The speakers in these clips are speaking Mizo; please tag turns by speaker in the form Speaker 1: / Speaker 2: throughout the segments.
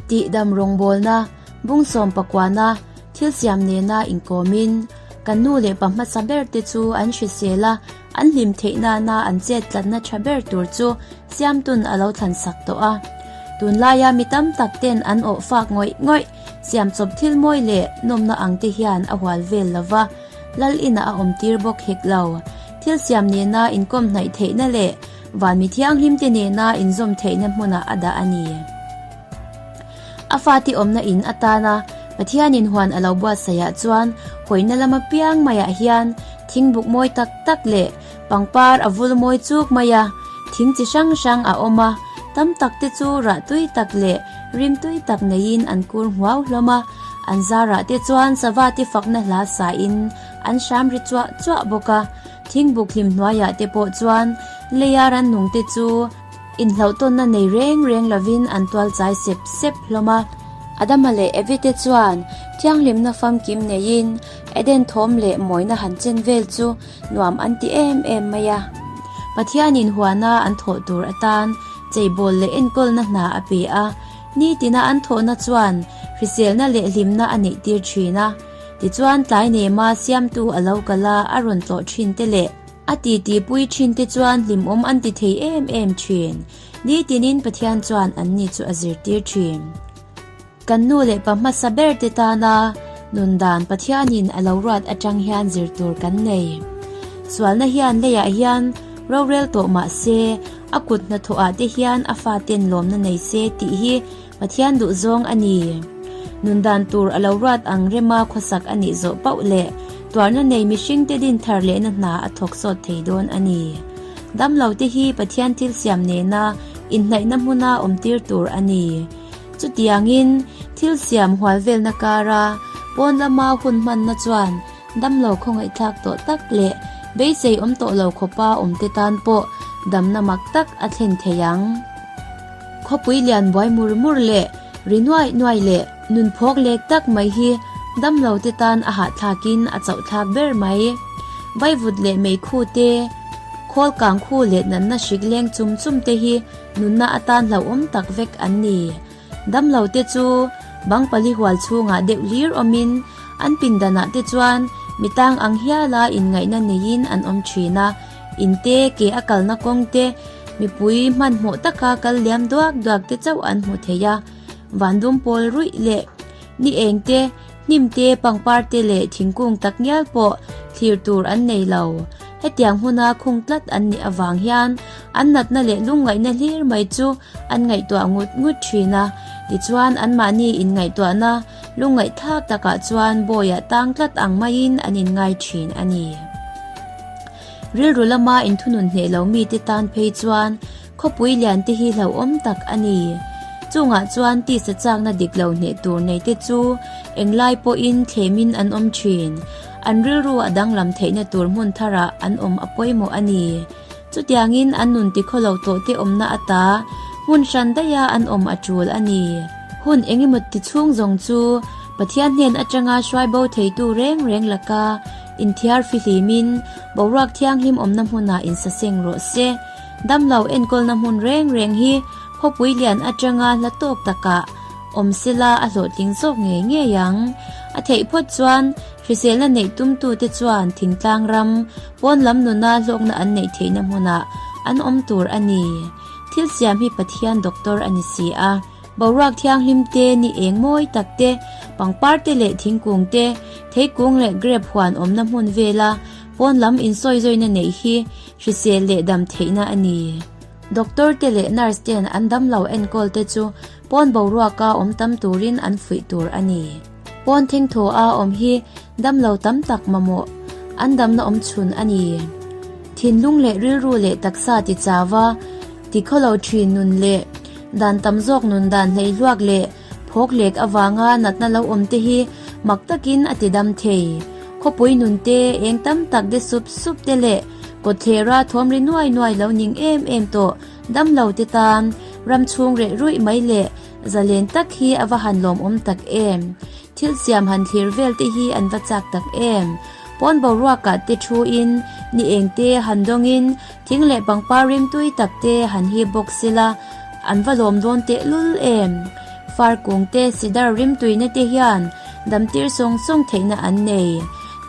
Speaker 1: Tih dam rawngbawlna, bungsawm pakuahna, thilsiam nena inkawmin kan nu leh pa hmasa ber te chu an hrisel a, an hlim theih nana an chet tlatna tha ber tur chu Siamtu'n a lo thlansak tawh a. Tunlaia mi tam tak ten an awh fak ngawih ngawih, siam chawp thil mawi leh nawmna ang te hian a hual vel lo va, Lal inah a awm tir bawk hek lo. Thilsiam nena inkawm hnaih theihna leh, Vanmi Thianghlimte nena inzawm theihna hmuna a dah a ni. A fate awmna in atana Pathianin huan a lo buatsaihah chuan hawina lam apiang maiah hian thingbuk mawi tak tak leh pangpar a vul mawi chuk mai a, thing chi hrang hrang a awm a, tam takte chu rah tui tak leh rim tui tak neiin an kur hmuau hlawm a, an zarahte chuan sava te fakna hla sain an hram ri chuah chuah bawk a. Thingbuk hlim hnuaiah te pawh chuan Leia Rannungte chu inhlauhtawnna nei reng reng lovin an tualchai sep sep hlawm a. Adama leh Evite chuan thianghlimna famkim neiin Eden thawm leh mawina han chen vel chu nuam an ti em em mai a. Pathianin huana an thawh tur atan cheibawl leh enkawlna hna a pe a, nitina an thawhna chuan hriselna leh hlimna a neihtir thin a. Tichuan tlai nei ma siamtu a lo kal a, a rawn tlawh thin te leh a titi pui thin te chuan hlimawm an ti thei em em thin. Nitinin Pathian chuan anni chu a zirtir thin. Kan nu leh pa hmasa ber te tana nun dan Pathianin a lo ruat atang hian zir tur kan nei. Sualna hian leiah hian rorel tawh mah se, a kut hnathawh ah te hian a faten lawmna nei se tih hi, Pathian duh zawng a ni. Nun dan tur a lo ruat ang rema khawsak a nih zawh pauh le tuarna nei mihring te din thar lehna hna a thawk sawt thei dawn a ni. Damlo te hi Pathian thil siam nena inhnaihna hmuna awmtir tur a ni. Chutiang in, thil siam hualvelna kara pawn lama hun hmanna chuan damlo khawngaihthlak tawh tak leh beisei awm tawh lo khawpa awmte tan pawh damna mak tak a thlen thei ang. Khawpui lian buai mur mur leh ri nuai nuai leh nun phawk lek tak mai hi damlo te tan a hahthlak in a chauhthlak ber mai. Vaivut leh meikhu te, khawl kang khu leh natna hrik leng chum chum te hi nunna a tan hlauhawm tak vek an ni. Damlo te chu bang pali hual chhungah deuh hlir awmin an pindanah te chuan mi tang ang hiala inngaihna neiin an awm thin a, In te, ke a kalna kawng te, mipui hmanhmawh taka kal liam duak duak te chauh an hmuh theih a. Vandum pawl ruih leh ni eng te, hnim te, pangpar te leh thingkung tak ngial pawh thlir tur an nei lo. Hetiang hmuna khung tlat an nih avang hian an natna leh lungngaihna hlir mai chu an ngaihtuah ngut ngut thin a, tichuan anmahni inngaihtuahna Lu ngaihthlak takah chuan Bawiah tang tlat ang maiin an inngai thin a ni. Rilru lama inthunun hneh lo mite tan phei chuan khawpui liante hi hlauhawm tak a ni. Chungah chuan tisa chakna dik lo hneh tur neite chu englai pawhin thlemin an awm thin. An rilru a danglam theihna tur hmun tharah an awm a pawimawh a ni. Chutiangin an nun ti khaw lo tawhte awmna ata hmun hran daia an awm a tul a ni. Hun engemaw tichhung zawng chu Pathian hnen atanga hruaibo theitu reng reng laka inthiarfi hlimin boruak thianghlim awmna hmuna insaseng rawh se. Damlo enkawlna hmun reng reng hi khawpui lian atanga hla tawk takah awm sela a hlawhtling zawk ngei ngei ang. A theih phawt chuan Hrisela neih tumtute chuan thingtlang ram, pawn lam nuna hlawkna an neih theihna hmunah an awm tur a ni. Thil siam hi Pathian doctor a ni si a. Boruak thianghlim te, ni eng mawi tak te, pangpar te leh thingkung te, theikung leh grape huan awmna hmun vela pawn lam insawizawina neih hi hrisel leh dam theihna a ni. Doctor te leh nurse ten an damlo enkawl te chu pawn boruaka awm tam turin an fuih tur a ni. Pawn thing thaw a awm hi damlo tam tak mamawh an damna awm chhun a ni. Thinlung leh rilru leh taksa ti chava, ti khawlo thin nun leh dan tam zawk nun dan hleihluak leh phawk lek avanga natna lo awm te hi mak takin a ti dam thei. Khawpui nun te, eng tam tak de sup sup te leh kawthlera thawmri nuai nuai lo ning em em tawh damlo te tan ram chhung reh ruih mai leh, Zalen tak hi a va han lawmawm tak em? Thil siam han thlir vel te hi an va chak tak em? Pawn boruak ah te thu in, ni eng te han dawng in, thing leh pangpar rimtui tak te han hip bawk si la, an va lawm dawn teh lul em? Far kung te, cedar rimtui na te hian damtir sawng sawng theihna an nei.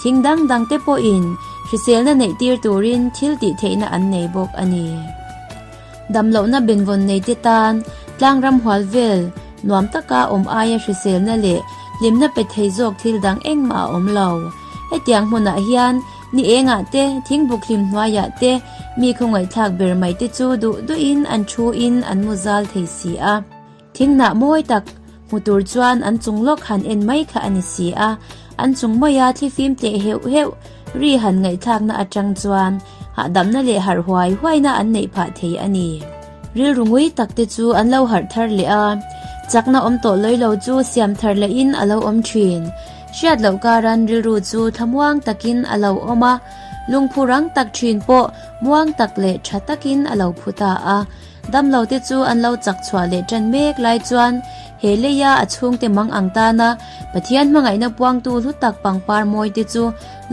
Speaker 1: Thing dang dang te pawh in, hriselna neih tir tur in thil tih theihna an nei bawk a ni. Damlohna benvawn neite tan tlangram hual vel nuam taka awm aia hriselna leh hlimna pe thei zawk thil dang engmah a awm lo. Hetiang hmunah hian ni engah te, thingbuk hlim hnuaiah te mi khawngaihthlak ber mai te chu duh duhin an thu in an mu zal thei si a. Thingnah mawi tak hmu tur chuan an chung lawk han en mai kha a ni si a, an chung mawia thli fim teh heuh heuh ri han ngaihthlakna atang chuan hahdamna leh harh huai huaina an neih phah thei a ni. Rilru ngui tak te chu an lo harh thar leh a, chakna awm tawh lawilo chu siam thar leh in a lo awm thin. Hriat loh karan rilru chu thlamuang tak in a lo awm a, lungphu rang tak thin pawh muang tak leh tha tak in a lo phu ta a. Damlo te chu an lo chak chhuah leh ṭan mek lai chuan he leia a chhungte mang ang tana Pathian hmangaihna puangtu hlu tak pangpar mawite chu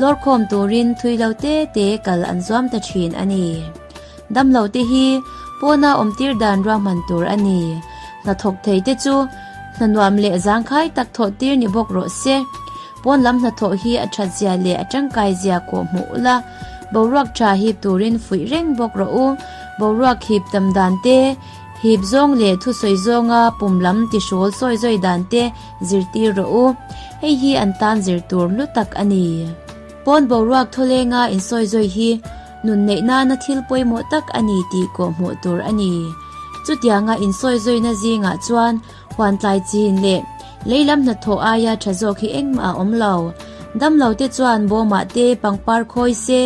Speaker 1: lawrkhawm turin thuilo te te kal an zuam ta ṭhin a ni. Damlo te hi pawna awmtir dan ruahman tur a ni. Hnathawk theite chu hnanuam leh zangkhai tak thawhtir ni bawk rawh se. Pawn lam hnathawh hi a that zia leh a tangkai zia kawh hmuh ula, boruak tha hip turin fuih reng bawk rawh u. Boruak hip tam dan te, hip zawng leh thusawi zawnga pum lam tihrual sawi zawi dan te zir tir rawh u. Hei hi an tan zir tur hlu tak a ni. Pawn boruak thawlenga insawi zawi hi nun neih nana thil pawimawh tak a ni tih kawh hmuh tur a ni. Chutianga insawi zawina zingah chuan, Phuantlai chin leh leilam hnathawh aia tha zawk hi engmah a awm lo. Damlo te chuan bawmah te, pangpar khawi se,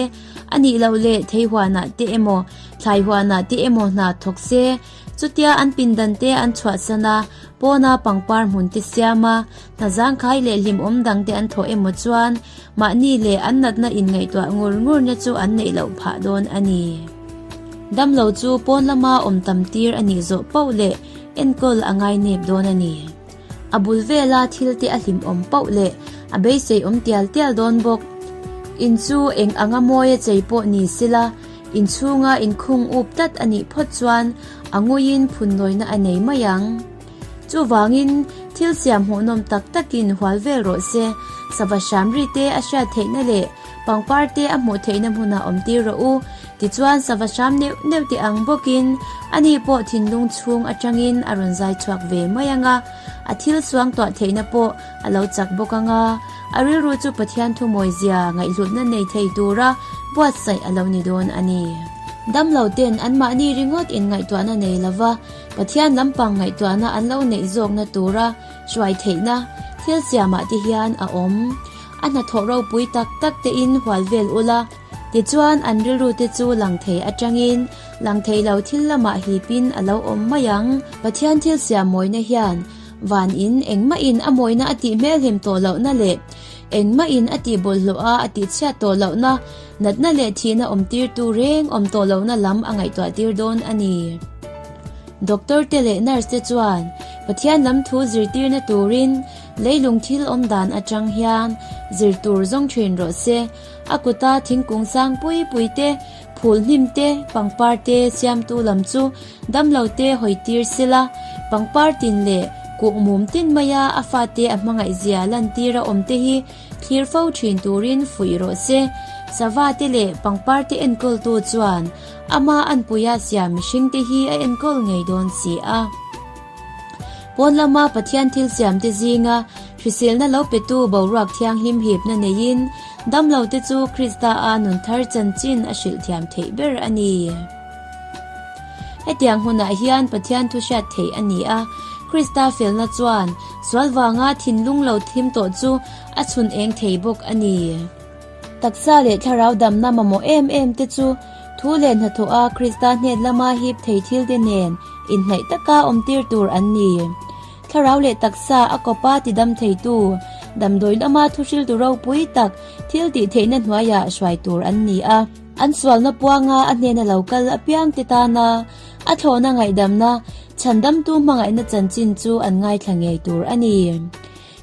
Speaker 1: a nih loh leh thei huanah te emaw, thlai huanah te emaw hna thawk se. Chutia an pindan te an chhuahsan a, pawna pangpar hmun te siam a. Hna zangkhai leh hlim awm dangte an thawh emaw chuan mahni leh an natna inngaihtuah ngur ngurna chu an neih loh phah dawn a ni. Damlo chu pawn lama awm tam tir a nih zawh pauh leh enkawl a ngainep dawn a ni. A bul vela thilte a hlimawm pauh leh a beisei awm tial tial dawn bawk. In chu eng anga mawi a chei pawh ni sela in chhunga in khung up tlat a nih phawt chuan a nguiin phun nawina a nei mai ang. Chuvangin, thil siam hmuhnawm tak takin hual vel rawh se, sava hram ri te a hriat theihna leh pangpar te a hmuh theihna hmunah awmtir rawh u. Tichuan, sava hram neuh neuh te ang bawkin, ani pawh thinlung chhung atangin a rawn zai chhuak ve mai ang a, a thil suang tuah theihna pawh a lo chak bawk ang a, a rilru chu Pathian thumawizia ngaihhlutna nei thei tura buatsaih a lo ni dawn a ni. Damlote'n anmahni ringawtin ngaihtuahna nei lova. Pathian lampang ngaihtuahna an lo neih zawkna tura hruai theihna thil siamah te hian a awm. A hnathawh ropui tak tak tein hual vel ula, tichuan an rilru te chu lang thei atangin lang thei lo thil lamah hipin a lo awm mai ang. Pathian thil siam mawina hian van in engmahin a mawina a tih hmelhem tawh lohna leh engmahin a tihbawlhhlawha a tihchhiat tawh lohna, Natna leh thihna awmtirtu reng awm tawh lohna lam a ngaihtuahtir dawn a ni. Doctor te leh nurse te chuan Pathian lam thu zirtirna turin leilung thil awm dan atang hian zir tur zawng thin rawh se. A kuta thingkung sang pui pui te, phul hnim te, pangpar te siamtu lam chu damlo te hawi tir sela, pangpar tin leh kuk mum tin maia a fate a hmangaih zia lantir a awm te hi, thlir fo thin turin fuih rawh se. Sava te leh pangpar te enkawl tu chuan ama an puia siam mihring te hi a enkawl ngei dawn si a. Pawn lama Pathian thil siam te zinga hriselna lo pe tu boruak thiang hlim hipna neiin damlo te chu Krista a nun thar chanchin a hrilh thiam theih ber a ni. Hetiang hunah hian Pathian thu hriat theih a ni a. Krista felna chuan sual vanga thinlung lo thim tawh chu a chhun eng thei bawk a ni. Taksa leh thlarau damna mamawh em em te chu thu leh hnathawha Krista hned lama hip thei thil te nen inhnaih taka awmtir tur an ni. Thlarau leh taksa a kawpa tidam theitu, damdawi lama thuhriltu ropui tak thil tihtheihna hnuaiah hruai tur an ni a. An sualna puanga a hnena lo kal apiang te tana a thlawhna ngaihdamna chhandamtu hmangaihna chanchin chu an ngaithla ngei tur a ni.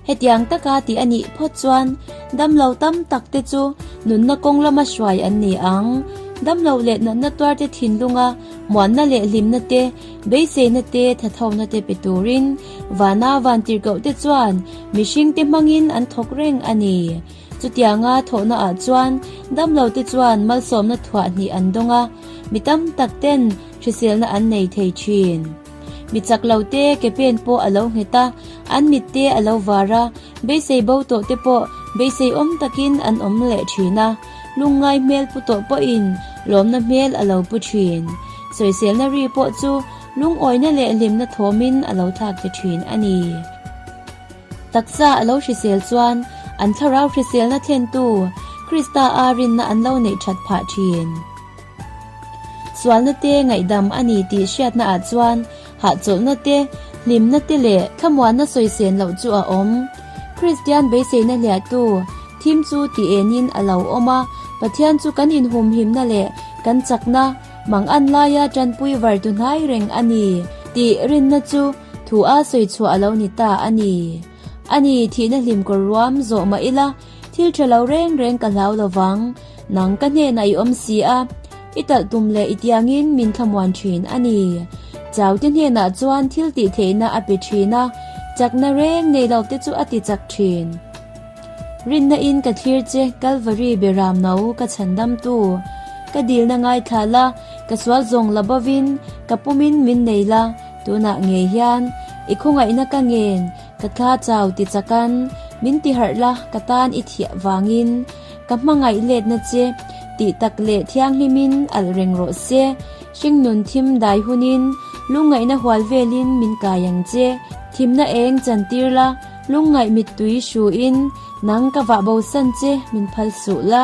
Speaker 1: Hetiang taka tih a nih phawt chuan damlo tam tak te chu nunna kawng lama hruai an ni ang. Damlo leh natna tuarte thinlunga muanna leh hlimna te, beiseina te, thathona te pe turin vana vantirhkoh te chuan mihringte hmangin an thawk reng a ni. Chutianga thawhna ah chuan damlo te chuan malsawmna thuah hnih an dawng a, mi tam tak ten hriselna an nei thei thin. Mi chak lo te ke pen pawh a lo nghet a, an mit te a lo var a, beisei bo tawh te pawh beisei awm takin an awm leh thin a, lungngai hmel pu tawh pawh in lawmna hmel a lo pu thin. Sawiselna ri pawh chu lungawina leh hlimna thawm in a lo thlak ta thin a ni. Taksa a lo hrisel chuan an thlarau hriselna thlentu Krista a rinna an lo neih that phah thin. Sualnate ngaihdam a ni tih hriatna ah chuan hahchawlhnate, hlimnate leh thlamuanna sawisen loh chu a awm. Kristian beiseina hliahtu thim chu ti enin a lo awm a, Pathian chu kan inhumhimna leh kan chakna mangan laia tanpui vartu hnai reng a ni tih rinna chu, Thu a sawi chhuah a lo ni ta a ni. A ni, thihna hlim kawr ruam zawh mah ila, thil tha lo reng reng ka hlau lo vang. Nang ka hnenah i awm si a, i talh tum leh i tiangin min thlamuan thin a ni. Chaute hnenah chuan thil tih theihna a pe thin a, chakna reng nei lo te chu a ti chak thin. Rinna in ka thlir che, Calvary be ram no ka chhan damtu. Ka dilna ngaithla la, ka sual zawng la bavin, ka pumin min nei la. Tunah ngei hian i khawngaihna ka ngen, ka thla chau ti chakan min ti harh la, ka tan i thiah vangin ka hmangaih letna che tih tak leh thianghlimin alh reng rawh se. Hringnun thim dai hunin lungngaihna hual velin min kai ang che. Thimna eng chan tir la, lungngaih mittui hruin nang ka vah bosan che min phal suh la.